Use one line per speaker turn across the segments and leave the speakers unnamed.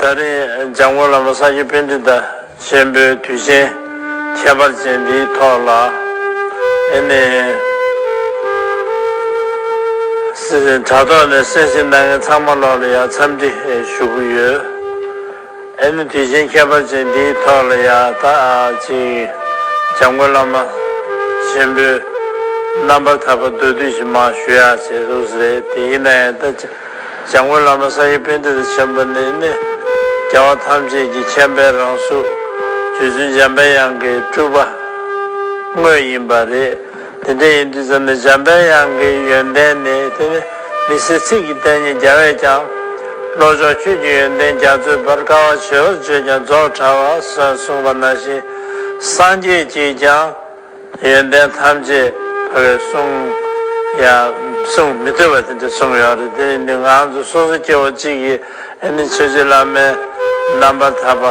ད་རེས་འཇམ་མགོན་བླ་མ་ས་སྐྱའི་དཔེ་འབྲི་བདག་ཆེན་པོའི་དུས་ཆེན་ཁྱད་པར་ཅན་འདིའི་ཐོག་ལ་ཨེ་ནས་དྲ་ཐོག་ནས་གསན་གཟིགས་གནང་མཁན་ཚང་མ་ལོག་ལ་ཡང་འཚམས་འདྲི་ཞུ་གི་ཡོད། ཨེ་ནས་དུས་ཆེན་ཁྱད་པར་ཅན་འདིའི་ཐོག་ལ་ཡང་དག་ཅིག་འཇམ་མགོན་བླ་མ་ཆེན་པོའི་རྣམ་པར་ཐར་པ་མདོར་བསྡུས་ཞིག་མང་ཞུ་ཡག་བྱེད་ཐུབ་ས་རེད་དེ་ཡིན་ན་ཡང་ད། བྱམས་མགོན་བླ་མ་ས་ཡི་དཔེ་འདི་དང་འཆམ་པ་ནི་ནི། རྒྱལ་བ་ཐམས་ཅད་ཀྱི་མཁྱེན་པའི་རང་གཟུགས། རྗེ་བཙུན་འཇམ་པའི་དབྱངས་ཀྱི་སྤྲུལ་པ་དངོས་ཡིན་པ་རེད། དེ་འདྲ་ཡིན་དུས་ཙམ་ནས་འཇམ་པའི་དབྱངས་ཀྱི་ཡོན་ཏན་ནི་དེ་ནི་མི་སྲིད་ཚིག་གི་གཏན་ཉིད་རྒྱ་བས་ཀྱང། བློ་མཆོག་ཁྱོད་ཀྱི་ཡོན་ཏན་རྒྱ་མཚོས་འབར་དཀའ་བ་བྱེའུར་བརྗོད་ཀྱང་རྫོགས་ཕྲ་བ་སོན་གསུངས་པ་ན་བཞིན། སངས་རྒྱས་ཀྱིས་ཀྱང། ཡོན་ཏན་ཐམས་ཅད་འཕེལ་བའི་གསུང། གསུང་མི་ཐོས་པ་དེ་འདྲའི་གསུང་ཡོད་རེད་དེ་ནི་ང་ཚོ་སོ་སོ་སྐྱེ་བོ་གཅིག་གིས་ཨེ་ནི་ཆོས་རྗེ་བླ་མའི་རྣམ་པར་ཐར་པ་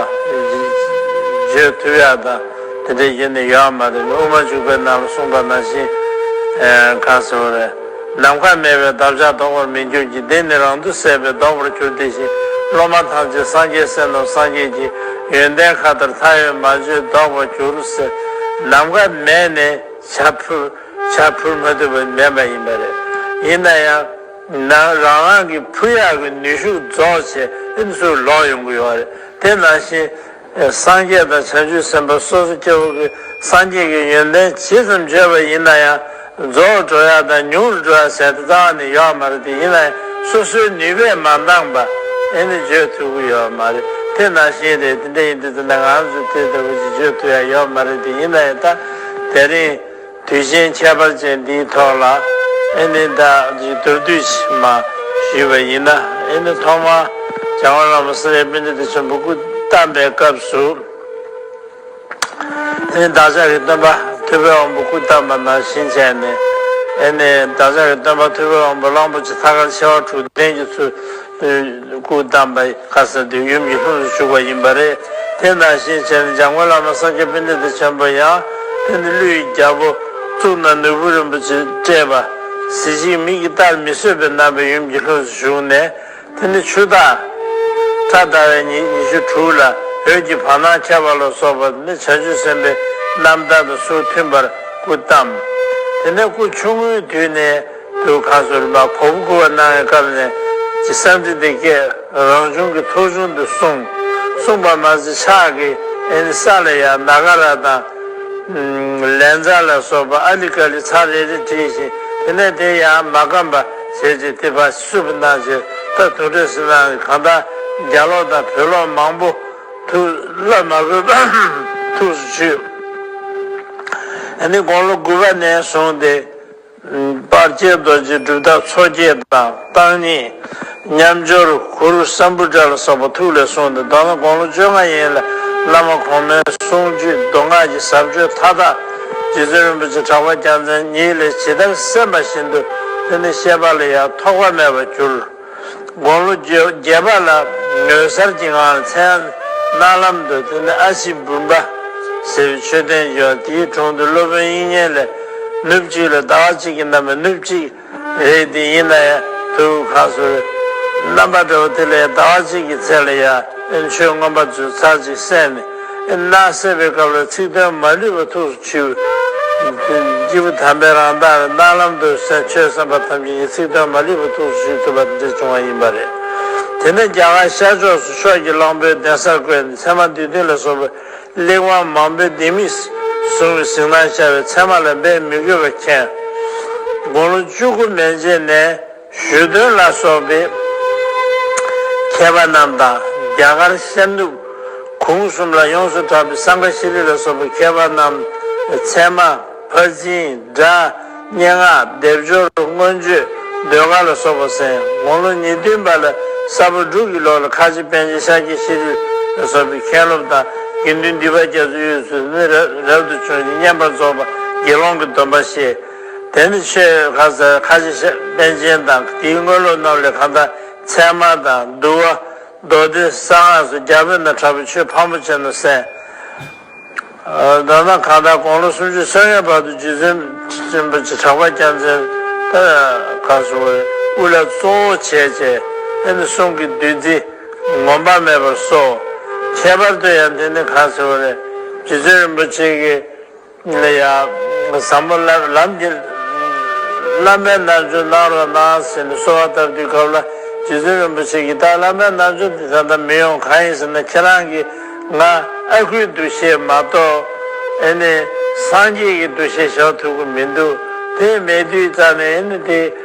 བརྗོད་ཐུབ་ཡག་དང་དེ་འདྲའི་ཡེ་ནས་ཡོད་མ་རེད་དབུ་མ་བཅུག་པའི་ནང་ལ་གསུང་པ་ནང་བཞིན་གང་ཟེར་བ་རེད། ནམ་མཁའ་མེད་པའི་འདབ་ཆགས་ལྡོག་པར་མི་འགྱུར་གྱི་དེ་ནི་རང་དུ་ཟད་པས་ལྡོག་པར་གྱུར་དེ་བཞིན་སློབ་མ་ཐམས་ཅད་སངས་རྒྱས་གསེར་རྣམས་སངས་རྒྱས་ཀྱི་ཡོན་ཏན་མཁའ་ལྟར་མཐའ་ཡས་མ་བཅོས་ལྡོག་པར་གྱུར་ཟེར། ནམ་མཁའ་མེད་ནི་བྱ་འཕུར་བྱ་འཕུར་མ་དུལ་བ་མེད་པ་ཡིན་པ་རེད། ཡིན་ན་ཡང། རང་རང་གི་ཕུ་ཡག་གི་ནུས་ཤུགས་རྫོགས་ཆེད་ཨིན་སུར་ལོག་ཡོང་གི་ཡོད་རེད་དེ་ནང་བཞིན། སངས་རྒྱས་དང་བྱང་ཆུབ་སེམས་དཔའ་སོ་སོ་སྐྱེ་བོ་གིས་སངས་རྒྱས་ཀྱི་ཡོན་ཏན་ཇི་ཙམ་བརྗོད་པ་ཡིན་ན་ཡང་རྫོགས་བ་འགྲོ་ཡང་དང་ཉུང་རུ་འགྲོ་ཡང་ཟད་དེ་རྩ་བ་ནས་ཡོད་བ་མ་རེད་དེ་ཡིན་ན་ཡང་སོ་སོའི་ནུས་པས་མ་འདངས་པ་ཨེ་ནི་བརྗོད་ཐུབ་ཀྱི་ཡོད་བ་མ་རེད་དེ་ནང་བཞིན་རེད་དེ་འདྲ་ཡིན་དུས་དེ་འདྲ་ང་ཚོས་དེ་ལྟ་བུ་ཞིག་བརྗོད་ཐུབ་ཡ་ཡོད་བ་མ་རེད་དེ་ཡིན་ན་ཡང་ད་དེ་རིང། དུས་གཞན་ཁྱད་པར་ཅན་འདིའི་ཐོག་ལ་ཨེ་ནི་བདག་གཅིག་མདོར་བསྡུས་མ་ཞུས་པ་ཡིན་ན་ཨེ་ནི་ཐོག་མར་བྱང་བ་ར་མ་སི་རའི་དཔེ་འདི་དེ་ཚོན་པོ་སྐུ་བལྟམས་པའི་སྐབས་སུ་ཨེ་ནི་བདག་ཅག་གི་སྟོན་པ་ཐུབ་པའི་དབང་པོ་སྐུ་བལྟམས་པ་ན་བྱིན་ཆད་ནས་ཨེ་ནི་བདག་ཅག་གི་སྟོན་པ་ཐུབ་པའི་དབང་པོ་གླང་པོ་ཆེ་ཐ་སྐར་ཆེ་བ་དྲུག་ལྡན་གྱི་ཚུལ་སྐུ་བལྟམས་པའི་ཁར་ས་བདུན་ཡུམ་གྱི་ལྷུམས་སུ་ཞུགས་པ་ཡིན་པ་རེད། དེ་ནང་བཞིན་བྱས་ནས་འཇམ་མགོན་བླ་མ་ས་སྐྱ་པཎ་བདེ་སྟེ་ཆེན་པོ་ཡང་ཕན་བདེ་གླུ་ཡི་རྒྱལ་པོ་གཙུག་ན་ནོར་བུ་རིན་པོ་ཆེས་སྤྲས་པ། གཟི་བརྗིད་མིག་གིས་བལྟར་མི་བཟོད་པའི་རྣམ་པས་ཡུམ་གྱི་ལྷུམས་སུ་ཞུགས་ནས་དེ་ནས་ཆུ་སྟག་བྲག་དར་བའི་ཉིན་ཉི་ཤུ་དྲུག་ལ་བོད་ཀྱི་བར་སྣང་ཁྱད་པར་ལ་སོགས་པ་ནི་བྱ་སྤྱོད་གསན་པའི་རྣམ་ཐར་དང་ཟུར་མཐུན་པར་སྐུ་བལྟམས། དེ་ནས་སྐུ་ཆུང་ངུའི་དུས་ནས་དུ་ཁ་ཟུར་པ་གོ་བུ་སྐུ་བ་གནང་བའི་སྐབས་ནས་ཀྱི་གསང་ཁྲིད་འདི་སྐད་རང་བྱུང་གི་ཐོ་གཞུང་དུ་གསུངས། གསུངས་པ་མ་ཟད་ཕྱག་གི་ཨིན་ས་ལ་ཡང་ནཱ་ག་ར་དང། ལན་ཚ་ལ་སོགས་པ་ཨཱ་ལི་ཀཱ་ལི་ཚགས་རེ་རེ་བྲིས་ཤིང་དེ་ནས་དེ་ཡང་མ་སྐམ་པ་བྱས་རྗེས་དེ་ཕ་སུ་བུ་གནང་བྱས་ད་དུང་བྲིས་སུ་གནང་གང་དག་རྒྱ་ལོག་དང་བོད་ལོག་མང་པོ་ཐུགས་བླ་མ་བོད་པ་ཐུགས་སུ་ཆུད། ནི་དགུང་ལོ་དགུ་པ་ནས་བཟུང་སྟེ། པར་བཅས་རྡོ་རྗེ་སྒྲུབ་ཐབས་མཚོ་སྐྱེས་དང་བརྟག་གཉིས། མཉམ་སྦྱོར་གུར་གསར་འབུལ་དགྲ་ལ་སོགས་པ་ཐུགས་ལས་གསུངས་ཏེ་མདོར་ན་དགོངས་ཀློག་བཅོ་ལྔ་ཡན་ལས་བླ་མ་གོང་མའི་གསུང་རྒྱུད་མདོ་སྔགས་ཀྱི་ཟབ་ཆོས་མཐའ་དག་རྗེ་བཙུན་རིན་པོ་ཆེ་གྲགས་པ་རྒྱ་མཚན་ཉིད་ལས་ཇི་ལྟར་གསན་པ་བཞིན་དུ་དེ་ནི་ཤེས་པ་ལ་ཡང་ཐོགས་པ་མེད་པར་གྱུར། དགུང་ལོ་བརྒྱད་པ་ལ་ནོན་གསར་གྱི་ངང་ཚལ་རྣ་ལམ་དུ་དེ་ནས་ཨ་ཤི་བུན་པ་ཟེར་བའི་མཆོད་རྟེན་བཞེངས་དེའི་དྲུང་དུ་སློབ་དཔོན་དབྱིག་གཉེན་ལས་ནུབ་གཅིག་ལ་ཟླ་བ་གཅིག་གི་རྣམ་པ་ནུབ་གཅིག་རེད་དེ་ཡིན་ན་ཡང་ཕུ་བོ་ཁ་སོ་རེད་རྣམ་པ་འདྲ་བོ་དེ་ལ་ཡང་ཟླ་བ་གཅིག་གི་ཚད་ལ་ཡང་མཆོད་རྔོན་པ་ཚོས་ཚར་གཅིག་བསད་ནས་ནགས་བསྲེགས་པའི་སྐབས་ལ་ཚིག་དོན་མ་ལུས་པ་ཐུགས་སུ་ཆུད། སྐྱེས་བུ་དམ་པས་རང་དག་བའི་རྣ་ལམ་དུ་སའི་ཆོས་བསམ་པ་ཐམས་ཅད་ཀྱི་ཚིག་དོན་མ་ལུས་པ་ཐུགས་སུ་ཆུད་ཐུབ་པ་འདིར་བྱུང་བ་ཡིན་པ་རེད། དེ་ནས་རྒྱ་གར་ཤར་ཕྱོགས་སུ་ཕྱོགས་ཀྱི་གླང་པོའི་གདན་སར་བཀོད་ནས་ཚད་མ་བསྡུས་བདུན་ལ་སོགས་པའི་གླེགས་བམ་མང་པོའི་ལྡེ་མིག་བཟུང་བའི་གཟིགས་སྣང་ཤར་བས་ཚད་མ་ལ་འབད་མི་དགོས་པར་མཁྱེན། དགུང་ལོ་བཅུ་དགུ་མན་ཆད་ནས། གཞོན་སྟོན་ལ་སོགས་པའི་མཁས་པ་རྣམས་དང་རྒྱ་གར་ཤར་ནུབ་གུང་གསུམ་ལ་ཡོངས་སུ་གྲགས་པའི་སངས་ཀ་ཤི་རི་ལ་སོགས་པའི་མཁས་པ་རྣམས་ཚད་མ། ཕར་ཕྱིན། སྒྲ། སྙན་ངག། སྡེབ་སྦྱོར། མངོན་བརྗོད། ཟློས་གར་ལ་སོགས་པ་གསན། དགུང་ལོ་ཉེར་བདུན་པ་ལ་ས་བབ་དྲུག་གི་ལོ་ལ་ཁ་ཆེ་པན་ཆེན་ཤཱཀྱ་ཤི་རི་ལ་སོགས་པའི་མཁན་སློབ་དང་དགེ་འདུན་འདུས་པ་རྒྱ་མཚོའི་ཡུལ་དུ་མི་རབས་རབ་ཏུ་བྱོན་ཞིང་བསྙེན་པར་རྫོགས་པ་དགེ་སློང་གི་སྡོམ་པ་བཞེས། དེ་ནི་ཆོས་ཡོད་ཁ་ཟེར་ཁ་ཆེ་ཤ་པན་ཅན་དང་དེའི་དངོས་ལུགས་རྣམས་ལས་གང་དག་མཚན་མ་དང་བསྡུ་བ། མདོ་སྡེ་གསང་སྔགས་སུ་རྒྱ་བོད་ན་ཁྲ་བོ་ཆོས་ཕམ་པོ་ཅན་ནོ་སེང། མདོར་ན་གང་དག་དགུང་ལོ་སུམ་ཅུ་སོ་ཡན་བར་དུ་རྒྱུད་འཛིན་རིན་པོ་ཆེ་གྲགས་པ་སྐྱ་མཚན་ལྟར་གར་བཟུང་བའི་དབུ་བླ་གཙོ་བོ་བྱས་བྱས་ཨེ་ནི་གསུང་གི་བདུད་རྩི་ངོམ་པ་མེད་པར་གསོ། ཁྱད་པར་དུ་ཡང་དེ་ནི་གང་ཟེར་བ་ནི་རྒྱུད་འཛིན་རིན་པོ་ཆེ་གི་ལ་ཡང་བཟང་པོ་བསླབ། ལམ་གྱི་བླ་མའི་རྣལ་འབྱོར་གནང་རོགས་གནང་ཟེར་ནས་གསོལ་བ་བཏབ་དུས་སྐབས་ལ་རྗེ་བཙུན་རིན་པོ་ཆེ་ཀྱིས་ད་བླ་མའི་རྣལ་འབྱོར་འདི་ད་ལྟ་མི་ཡོང་གང་ཡིན་ཟེར་ན་ཁྱེད་རང་གིས་ང་ཨ་ཁུའི་འདུ་ཤེས་མ་གཏོགས་ཨེ་ནི་སངས་རྒྱས་ཀྱི་འདུ་ཤེས་བཞག་ཐུབ་ཀྱི་མི་འདུག་དེ་མེད་དུས་རྩ་ནས་ཨེ་ནི་དེ།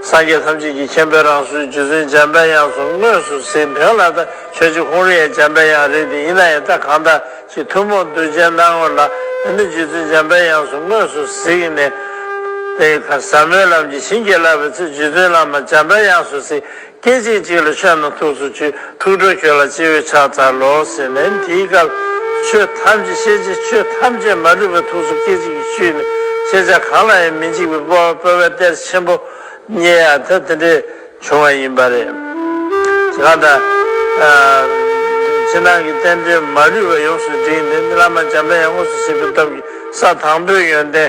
སངས་རྒྱས་ཐམས་ཅད་ཀྱི་མཁྱེན་པའི་རང་བཟོའི་རྗེ་བཙུན་འཇམ་དཔལ་དབྱངས་སུ་དངོས་སུ་གཟིགས་འཕེན་ལ་ད་ཆོས་ཀྱི་ཁོང་རི་ཡའི་འཇམ་དཔལ་དབྱངས་རིགས་དེ་ཡིན་ན་ཡང་ད་གང་དག་ཅིག་ཐུན་མོང་གདུལ་བྱའི་སྣང་ངོར་ལ་ད་ནི་རྗེ་བཙུན་འཇམ་དཔལ་དབྱངས་སུ་དངོས་སུ་གཟིགས་ནས་དེ་ཟབ་མོའི་ལམ་གྱིས་བྱིན་གྱིས་བརླབས་པའི་ཚེ་རྗེ་བཙུན་བླ་མ་འཇམ་དཔལ་དབྱངས་སུ་གཟིགས་སྐད་ཅིག་གཅིག་ལ་ཆོས་རྣམས་ཐུགས་སུ་ཆུད། ཐུགས་ཁྲོ་ཁྱོད་ལ་སྤྱི་བོས་ཕྱག་འཚལ་ལོ་ཟེར་ལན་དེའི་སྐབས་ཆོས་ཐམས་ཅད་ཤེས་བྱའི་ཆོས་ཐམས་ཅད་མ་གྲུབ་པའི་ཐུགས་སུ་སྐད་ཅིག་གིས་ཆུད་ནས་ཤེས་བྱ་གང་ལ་ཡང་མི་འཇིགས་པའི་སྤོབས་པ་སྤོབས་པའི་གཏེར་ཆེན་པོ་རྙེད་ཡ་ད་དེ་འདྲའི་བྱུང་བ་ཡིན་པ་རེད། གང་ལྟར། ཕྱི་ནང་གི་རྟེན་འབྲེལ་མ་ལུས་པ་ཡོངས་སུ་བསྒྲིགས་ནས་བླ་མ་འཇམ་དཔལ་དབྱངས་དངོས་སུ་གཤེགས་པའི་སྟོབས་ཀྱིས་ས་དང་པོའི་ཡོན་ཏན་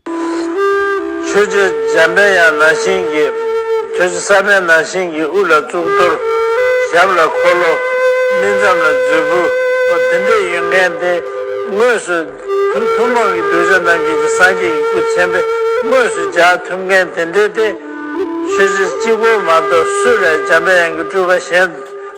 ཆོས་རྗེ་འཇམ་དཔལ་ཡང་ན་ཤིང་གི་ཐོད་ཆུ་ས་པའི་ནང་ཤིང་གི་དབུ་ལ་གཙུག་གཏོར། ཞབས་ལ་འཁོར་ལོ། སྨིན་མཚམས་ལ་མཛོད་སྤུ། འོ་དེ་འདྲས་ཡོད་མཁན་དེ་དངོས་སུ་ཐུན་མོང་གི་གདུལ་བྱ་རྣམས་ཀྱི་སངས་རྒྱས་ཀྱི་སྐུ་མཚན་དཔེ་དངོས་སུ་སྦྱར་ཐུབ་མཁན་དེ་འདྲས་ཏེ། ཆོས་རྗེ་གཅིག་པོ་མ་གཏོགས་སུས་ལས་འཇམ་དཔལ་དབྱངས་ཀྱི་སྤྲུལ་པ་གཞན།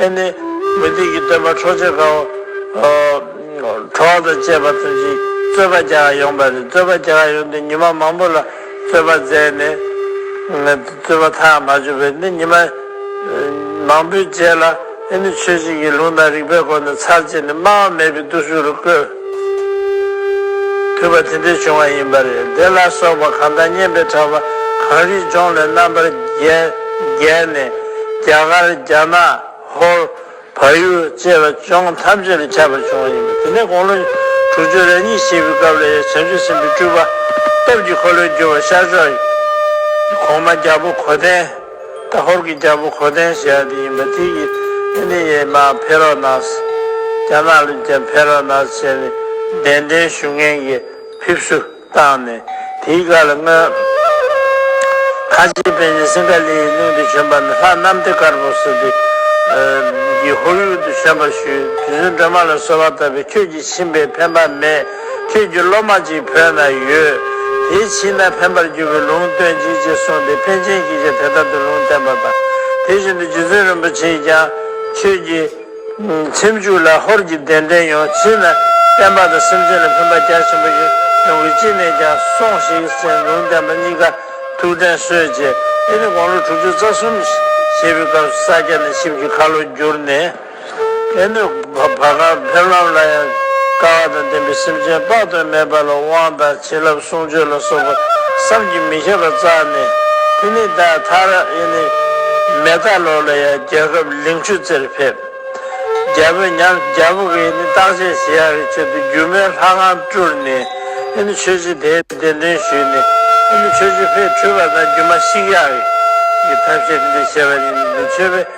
ཨེ་ནི། མུ་ཏིག་གི་སྟོན་པ་ཁྲོ་ཆེན་ཁ་བོ། ཁྲོ་བ་དང་བཅས་པ་ཚུལ་བཞིན་རྩོད་པ་བརྒྱ་ག་ཡོང་པ་རེད་རྩོད་པ་བརྒྱ་ག་ཡོང་སྟེ་ཉི་མ་མང་པོ་ལ་རྩོད་པ་མཛད་ནས། རྩོད་པ་མཐའ་ཡང་མ་བཅོས་པས་ནི་ཉི་མ་མང་པོའི་རྗེས་ལ་ཨེ་ནི་ཆོས་བྱེད་ཀྱི་ལུང་དང་རིགས་པའི་སྒོ་ནས་ཚར་བཅད་ནས་སྨྲ་བ་མེད་པའི་བརྟུལ་ཞུགས་ལ་བཀོད། གུས་པ་དེ་འདྲའི་བྱུང་བ་ཡིན་པར་བདེ་ལ་སོགས་པ་གང་དག་སྙན་པའི་གྲགས་པ་གངས་རིའི་ལྗོངས་ལས་རྣམ་པར་རྒྱལ་ནས་རྒྱ་གར་རྒྱ་ནག་ཧོར་བ་ཡུལ་བཅས་པ་ལྗོངས་ཐམས་ཅད་ལ་ཁྱབ་པར་བྱུང་བ་ཡིན་པས་དེ་ནས་དགུང་ལོ་དྲུག་ཅུ་རེ་གཉིས་བཞེས་པའི་སྐབས་ལ་ཡང་བྱང་ཆུབ་སེམས་དཔའི་སྤྲུལ་པ། སྟོབས་ཀྱི་འཁོར་ལོས་སྒྱུར་བ་ཤར་ཕྱོགས་གོང་མ་རྒྱལ་པོ་གོ་དན། ད་ཧོར་གྱི་རྒྱལ་པོ་གོ་ལྡན་ཞེས་པ་དེ་ཡིན་པ་དེ་ཡིས་ཨིན་དི་ཡའི་དམག་བྷེ་རོ་ནཱས། རྒྱ་ནག་ལུགས་ཀྱི་བྷེ་རོ་ནཱས་བྱས་ནས་བདེན་དོན་ཞུ་མཁན་གྱི་ཕིབས་བསུ་བཏང་ནས་དེའི་བཀའ་ལ་མངོན། ཁ་ཆེའི་དཔོན་ཆེན་སིང་གྷ་ལི་ཡི་གླིང་དུ་བྱོན་པ་ནི་ལྷ་གནམ་བདེ་དཀར་པོ་སི་ཏི། ཡི་ཧོར་ཡུལ་དུ་བྱོན་པར་ཞུས། དུས་ཚོད་སྒྲོལ་མ་ལ་གསོལ་བ་བཏབ་པས་ཁྱོད་ཀྱིས་ཕྱིན་པའི་ཕན་པ་མེད། ཁྱོད་ཀྱི་སློབ་མ་ཅིག་བོད་ན་ཡོད། དེའི་ཕྱིས་ན་ཕན་པར་འགྱུར་བའི་ལུང་སྟོན་ཅིག་ཅེས་གསུངས་ཏེ་ཕན་ཆེན་གྱིས་ཀྱང་དེ་ལྟར་དུ་ལུང་བསྟན་པ་དང། དེ་བཞིན་དུ་རྗེ་བཙུན་རིན་པོ་ཆེས་ཀྱང། ཁྱོད་ཀྱི། ཚེམས་ཕྱུག་ལ་ཧོར་གྱི་གདན་འདྲེན་ཡོང་ཕྱིན་ན། བསྟན་པ་དང་སེམས་ཅན་ལ་ཕན་པ་རྒྱ་ཆེན་པོ་ཞིག་ཡོང་གི་ཅི་ནས་ཀྱང་སོང་ཞིག་ཅེས་ལུང་བསྟན་པ་གཉིས་ཀ་ཐུགས་དྲན་གསོས་བྱས། དེ་ནས་དགུང་ལོ་དྲུག་ཅུ་རྩ་གསུམ་བཞེས་པའི་སྐབས་སུ་ས་སྐྱ་ནས་ཆིབས་ཀྱི་ཁ་ལོ་བསྒྱུར་ནས། ཨེ་ནུ་བྷ་ག་བྷེར་ལམ་ལ་ཡང་དགའ་བ་དང་ལྡན་པའི་སེམས་ཅན་དཔག་ཏུ་མེད་པ་ལ་དབང་དང་བྱིན་རླབས་གསུང་ཆོས་ལ་སོགས་པ་བསམ་གྱིས་མི་ཁྱབ་པ་བསྩལ་ནས། དེ་ནས་ད་དྷར་ཨེ་ནི་མེ་ད་ལོ་ལ་ཡང་རྒྱལ་ཁབ་གླིང་ཆུ་རྩེར་ཕེབས། རྒྱལ་པོས་ཉམས་རྒྱལ་པོ་གིས་ཨེ་ནི་རྟག་ཆད་བྱེད་ཡ་རེ་ཆེད་དུ་སྒྱུ་མའི་ལྷ་ཁང་བཀྲུར་ནས་ཨེ་ནི་ཆོས་རྗེ་དེའི་གདན་འདྲེན་ཞུས་ནས་ཨེ་ནི་ཆོས་རྗེ་ཕས་ཁྲུས་པ་དང་སྒྱུ་མ་བཤིག་ཡ་ཡི་ཐབས་ཤེས་འདི་བྱས་པ་ནི་མི་ཆོས་པའི།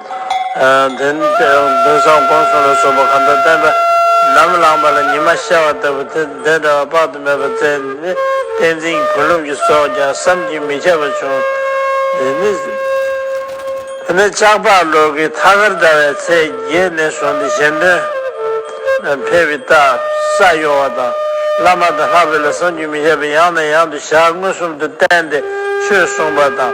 དོན་བཟང་དགོངས་གསུང་ལ་སོགས་པ་གང་དག་བསྟན་པ་ནམ་བླངས་པ་ལ་ཉི་མ་ཤར་བ་ལྟ་བུ་དེ་འདི་འདྲ་བ་དཔག་ཏུ་མེད་པ་བཙལ་ནས་བསྟན་འཛིན་བུ་སློབ་ཀྱི་སྲོག་ཀྱང་བསམ་གྱིས་མི་ཁྱབ་པ་བྱུང། དེ་ནས་ལྕགས་ཕག་ལོར་གྱི་ཐ་སྐར་ཟླ་བའི་ཚེས་བརྒྱད་ནས་བཟུང་སྟེ་གཞན་དོན་འཕེལ་བའི་རྟགས་ས་གཡོ་བ་དང་བླ་མ་དང་ལྷག་པའི་ལ་བསམ་གྱིས་མི་ཁྱབ་པའི་ཡང་ནས་ཡང་དུ་ཞག་མངོན་སུམ་དུ་བསྟན་ཏེ་ཆོས་གསུངས་པ་དང།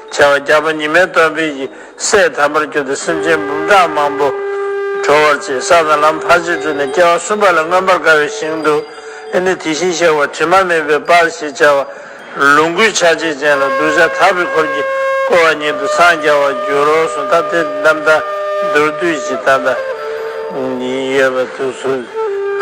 བྱ་བ་རྒྱ་བོད་ཉི་མའི་སྟོབས་འཕེལ་གྱིས་སས་དམ་པར་གྱུར་ཏེ་སེམས་ཅན་འབུམ་ཕྲག་མང་པོ་གྲོལ་བར་བྱེད་ས་དང་ལམ་བར་ཆད་བསྒྲུབས་ནས་སྐྱེ་བ་གསུམ་པ་ལ་མངོན་པར་དགའ་བའི་ཞིང་དུ་ཨེ་ནི་དེ་བཞིན་གཤེགས་པ་དྲི་མ་མེད་པའི་པར་ཞེས་བྱ་བ་ལོངས་སྐུའི་ཆ་བྱད་ཅན་ལ་གདུལ་བྱ་དག་པའི་འཁོར་གྱིས་བསྐོར་བ་ཉིད་དུ་འཚང་རྒྱ་བར་འགྱུར་རོ་གསུངས་ད་ལྟའི་འདམ་རྟ་མདོར་བསྡུས་ཀྱི་ད་ལྟ་ཉིད་ཡོད་པ་དུས་ཚོད་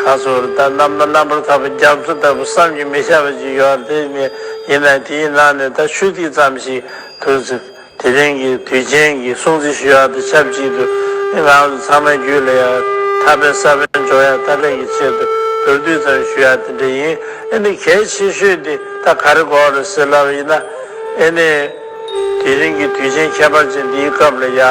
ག་ཚོད་བར་ད་འདམ་རྟ་རྣམ་པར་དག་པའི་རྒྱ་མཚོ་ལྟ་བུ་བསམ་གྱིས་མི་ཁྱབ་པ་ཅིག་ཡོད་དེ་ནས་ཡིན་ནའི་དེའི་ནང་ནས་ད་ཆོས་ཐིག་ཙམ་ཞིག་དུ་དེ་རིང་གི་དུས་ཆེན་གྱི་སྲུང་བརྩི་ཞུ་ཡག་དང་ཆབས་ཅིག་ཏུ་ངང་དུ་ཚང་མའི་རྒྱུད་ལ་ཡང་དག་པའི་ས་བོན་འཇོག་ཡག་ཐབས་ལེགས་ཀྱི་ཆེད་དུ་མདོར་བསྡུས་ཙམ་ཞུ་ཡག་དེ་འདྲ་ཡིན་ཨེ་ནི་གལ་ཆེ་ཤོས་དེ་ད་ག་རེ་གོ་རེ་ཟེར་ལབ་ཡིན་ན་ཨེ་ནི་དེ་རིང་གི་དུས་ཆེན་ཁྱད་པར་ཅན་འདིའི་སྐབས་ལ་ཡང་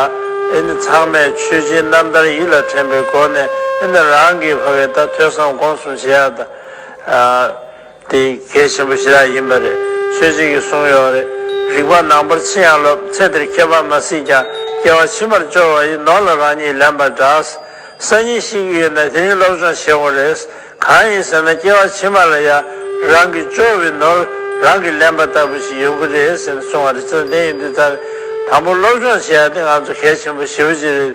ཨེ་ནི་ཚང་མས་ཆོས་སྦྱིན་རྣམ་ཐར་ཡིད་ལ་དྲན་པའི་སྒོ་ནས་ཨེ་ནི་རང་གི་ཕ་བའི་ད་ཐོས་བསམ་སྒོམ་གསུམ་བྱེད་ཡག་དང། དེ་གལ་ཆེན་པོ་ཞེ་དྲག་ཡིན་པ་རེད་ཆོས་ཅིག་གིས་གསུངས་ཡོད་རེད། རིག་པ་ནང་པར་ཅི་ཡང་ལོབས་ཚེ་དེར་སྐྱེ་བ་མ་སྲིད་ཀྱང་སྐྱེ་བ་ཕྱི་མར་སྤྱོར་བ་ཡིན་ནོ་ལ་རང་ཉིད་ལན་པར་བསྒྲགས། སང་ཉིན་ཤི་གི་ཡོད་ན་དེ་ནི་སློབ་སྦྱོང་བྱེད་དགོས་རེད། གང་ཡིན་ཟེར་ན་སྐྱེ་བ་ཕྱི་མ་ལ་ཡང་རང་གིས་སྤྱོར་བའི་ནོར་རང་གིས་ལེན་པ་ལྟ་བུ་ཞིག་ཡོད་གི་རེད་ཟེར་ནས་གསུངས་བ་རེད་བཅོམ་ལྡན་ཡིན་དུས་ལྟར་དང་པོ་སློབ་སྦྱོང་བྱེད་ཡ་དེ་ང་ཚོ་གལ་ཆེན་པོ་ཞེ་བོ་གཅིག་རེད།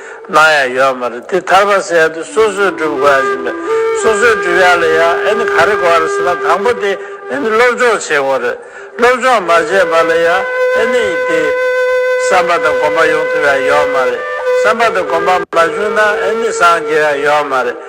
སྣང་ཡང་ཡོད་མ་རེད་དེ་ཐར་པ་གསལ་དུ་སོ་སོས་བསྒྲུབ་དགོས་ཡ་ཞིག་རེད་སོ་སོས་བསྒྲུབ་ཡ་ལ་ཡ་ཨེ་ནི་ག་རེ་དགོས་རེད་ཟེར་ན་དང་པོ་དེ་ཨེ་ནི་སློབ་སྦྱོང་བྱེད་དགོས་རེད་སློབ་སྦྱོང་མ་བྱས་པ་ལ་ཡ་ཨེ་ནི་དེ་བསམ་པ་དང་གོམས་པ་ཡོང་ཐུབ་ཡ་ཡོད་མ་རེད་བསམ་པ་དང་གོམས་པ་མ་བྱུང་ན་ཨེ་ནི་སངས་རྒྱས་ཡ་ཡོད་མ་རེད།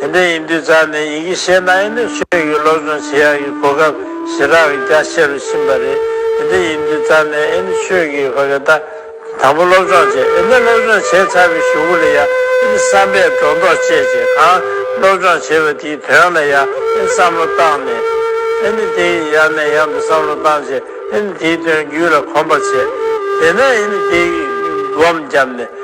དེ་འདྲ་ཡིན་དུས་རྩ་ནས་ཡི་གེ་བཤད་ན་ཨེ་ནུས་ཆོས་ཀྱི་སློབ་སྦྱོང་བྱེད་ཡག་གི་གོ་སྐབས་ཞེ་དྲག་གི་རྒྱ་ཆེ་རུ་ཕྱིན་པ་རེད་དེ་འདྲ་ཡིན་དུས་རྩ་ནས་ཨེ་ནུས་ཆོས་ཀྱི་བྷ་ག་ཏཱ་དང་པོ་སློབ་སྦྱོང་བྱེད་ཨེ་ནུས་སློབ་སྦྱོང་བྱས་ཚར་བའི་ཞུ་གུ་ལ་ཡ་ཨེ་ནུས་བསམ་པས་སྒྲོ་འདོགས་བཅད་བཅད་གང་སློབ་སྦྱོང་བྱེད་པ་དེའི་དོན་ལ་ཡ་ཨེ་ནུས་བསམ་བློ་བཏང་ནས་ཨེ་ནུས་དེ་ཡ་ནས་ཡང་དུ་བསམ་བློ་བཏང་རྗེས་ཨེ་ནུས་དེའི་དོན་རྒྱུད་ལ་གོམས་པར་བྱེད་དེ་ནས་ཨེ་ནུས་དེའི་སྒོམ་བརྒྱབ་ནས་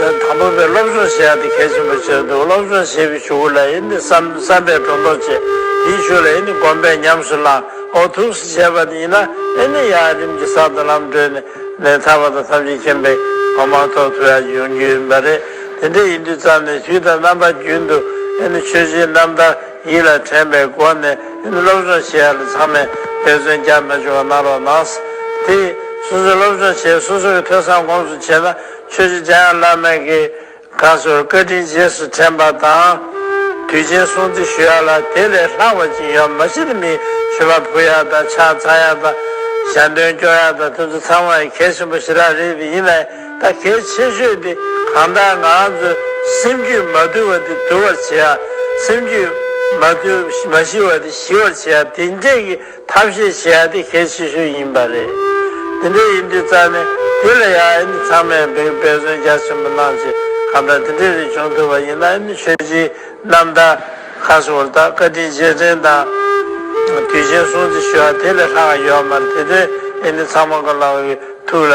དང་པོ་པའི་སློབ་སྦྱོང་བྱེད་ཡག་དེ་གལ་ཆེན་པོ་ཆགས་འདུག་སློབ་སྦྱོང་བྱེད་པའི་ཆུ་བོ་ལ་ཡིན་ནི་བསམ་བསམ་པའི་སྒྲོ་འདོགས་བཅད། དེའི་ཆུ་ལ་ཡིན་ནི་གོམ་པས་ཉམས་སུ་བླངས། འོ་ཐུགས་སུ་བྱས་པ་དེ་ཡིན་ན་ཨེ་ནི་ཡ་རིམ་གྱིས་ས་དང་ལམ་བགྲོད་ནས་ལས་ཐར་བ་དང་ཐམས་ཅད་མཁྱེན་པའི་གོ་མ་ཐོག་ཐུགས་ཡག་ཡོང་རྒྱུ་ཡིན་པ་རེད་དེ་འདྲ་ཡིན་དུས་ཙམ་ནས་དུས་དང་རྣམ་པ་རྒྱུན་དུ་ཨེ་ནི་ཆོས་བྱེད་རྣམ་ཐར་ཡིད་ལ་དྲན་པའི་སྒོ་ནས་སློབ་སྦྱོང་བྱེད་ཡ་ལ་ཚང་མས་འབད་བརྩོན་རྒྱག་མ་བྱུང་བ་གནང་རོགས་གནང། དེ་ཡིས་སོ་སོའི་སློབ་སྦྱོང་བྱེད་སོ་སོ་གི་ཐོས་བསམ་སྒོམ་སོགས་བྱེད་ན་ཆོས་རྗེ་འཇམ་དབྱངས་བླ་མའི་གི་ག་སོར་བཀའ་དྲིན་རྗེས་སུ་དྲན་པ་དང། དུས་ཆེན་སྲུང་བརྩི་ཞུ་ཡ་ལ་དེ་ལས་ལྷག་པ་ཅི་ཡོད་མ་ཤི་ན་མི་ཆོས་པ་ཕུལ་ཡ་དང་ཕྱག་འཚལ་ཡ་དང། ཞལ་འདོན་སྐྱོར་ཡ་དང་དེ་ཚོ་ཚང་མ་གལ་ཆེན་པོ་ཞེ་དྲག་རེད་པས་ཡིན་ན། ད་གལ་ཆེ་ཤོས་དེ་གང་ལྟར་ང་ཚོས་སེམས་རྒྱུད་མ་དུལ་བ་དེ་དུལ་བར་བྱེད་ཡ། སེམས་རྒྱུད་མ་དུལ་མ་ཞི་བ་དེ་ཞི་བར་བྱེད་ཡ་དེ་འདྲས་ཀྱི་ཐབས་ཤེས་བྱེད་ཡ་དེ་གལ་ཆེ་ཤོས་ཡིན་པ་རེད། དེ་འདྲས་ཡིན་དུས་རྩ་ནས་དེ་ལ་ཡ་ཨེ་ནི་ཚང་མས་འབད་བརྩོན་རྒྱ་ཆེན་པོ་གནང་བྱས་གང་ལྟར་དེ་འདྲས་རིགས་བྱུང་ཐུབ་པ་ཡིན་ན་ཨེ་ནི་ཆོས་སྤྱིའི་རྣམ་ཐར་ཁག་སོགས་རུ་དག་བཀའ་དྲིན་རྗེས་དྲན་དང། དུས་ཆེན་སྲུང་བརྩི་ཞུ་ཡ་དེ་ལས་ལྷག་ཡོད་མ་རེད་དེ་དོན་ཨེ་ནི་ཚང་མ་མགོ་ལག་འོས་ཐུག་ལ།